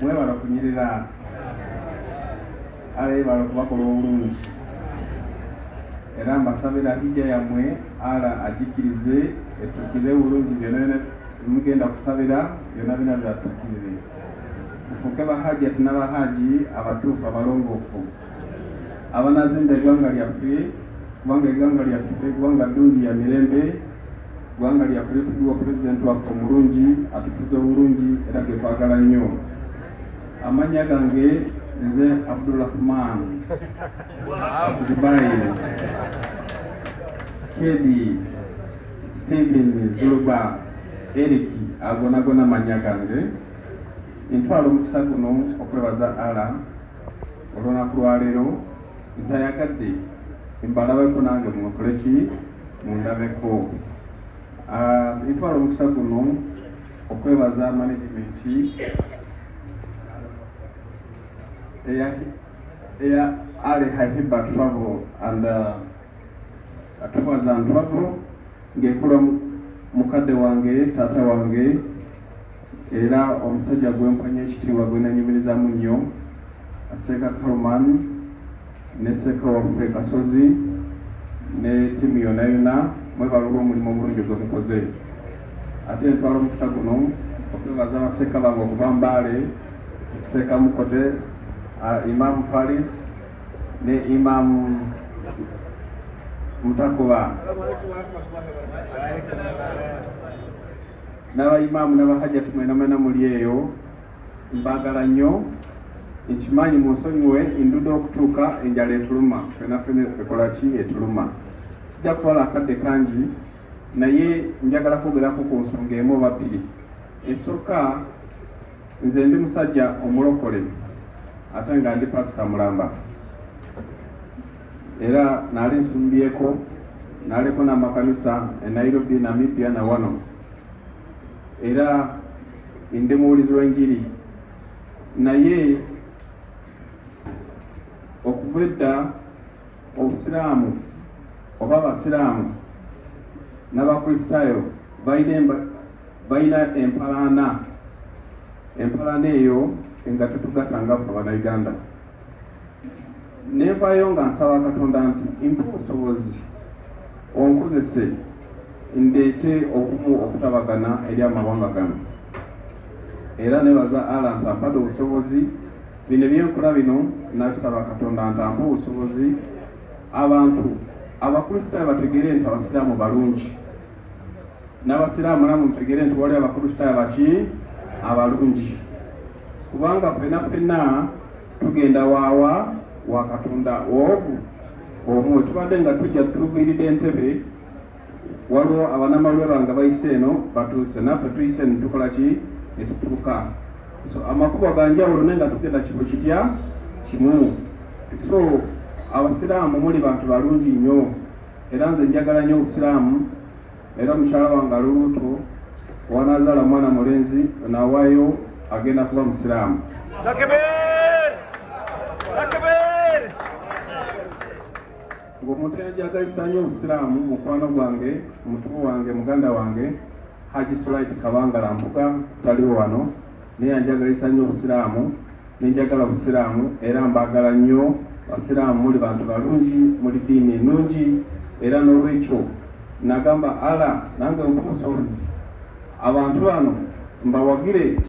Mwebale okunyirira ala yebale okubakola obulungi era mbasabira hijja yammwe ala agikirize etukire bulungi byona byona mugenda kusabira byona bina byatukirire mufuuke bahajjati nabahaji abatuufu abalongoofu abanazimba eggwanga lyaffe kubanga eggwanga lyaffe eggwanga ddungi ya mirembe eggwanga lyaffe litugiwa pulezidenti waffe omulungi atukuza obulungi era gekwagala nnyo amannya gange nze abdurahman dubai kedi stephen zuluba eric agonagona mannya gange ntwala omukisa guno okwebaza ala olunaku lwaleero ntayagadde mbalabeko nange munkole ki mundabeko ah, ntwala omukisa guno okwebaza management eya eya ali hahiba travel and atuwaza ah, ntwago ngekula mukadde wange taata wange Era omusajja gwe mpa nnyo ekitiibwa gwe nanyumirizaamu nnyo Seeka Karuman ne Seeka waffe Kasozi ne ttiimu yonna yonna mwebale olw'omulimu omulungi gwe mukoze. Ate ntwala omukisa guno okwebaza ba Seeka bange okuva Mbale, Seeka Mukote, Imam Faris ne Imam Mutakuba. Naba Imam naba Hajjat mwena mwena muli eyo mbagala nyo nkimanyi munsonyiwe indude okutuuka enjala etuluma fena fena ekolaki etuluma sija kutwala akadde kangi naye njagala kwogerako ku nsonga emu oba bbiri esooka nze ndi musajja omulokole ate nga ndi pasita mulamba era nali nsumbyeko naliko n'amakanisa e Nairobi Namibia na wano era ndi muwulizi w'enjiri naye okuva edda obusiraamu oba abasiraamu n'abakristaayo balina empalaana empalaana eyo nga tetugatanga ffe abanauganda nevayo nga nsaba katonda nti mpa obusobozi onkozese ndeete obumu okutabagana eri amawanga gano era nebaza ala ntampade obusobozi bino ebyenkola bino nabisaba katonda ntampa obusobozi abantu abakristaayo bategere nti abasiraamu balungi n'abasiraamu namu mutegere nti wali abakristaayo baki abalungi kubanga fena fena tugenda waawa wa katonda ogu omu wetubadde nga tujja tuviiride entebe waliwo abanamaluwe bange bayise eno batuuse naffe tuyise netukola ki netutuuka so amakubo ganjawulo naye nga tugenda kibu kitya kimu so abasiraamu muli bantu balungi nnyo era nze njagala nnyo obusiraamu era mukyala wange ali lubuto wanazaala mwana mulenzi nawayo agenda kuba musiraamu ng'omutenjaga essanyu obusiraamu mukwano gwange mutubu wange muganda wange haji sulaiti kabangala mpuga taliwo wano naye anjagala essanyu obusiraamu Nenjagala busiraamu era mbaagala nnyo basiraamu muli bantu balungi muli diini ennungi era n'olwekyo nagamba Allah nange ompe obusobozi abantu bano mbawagire.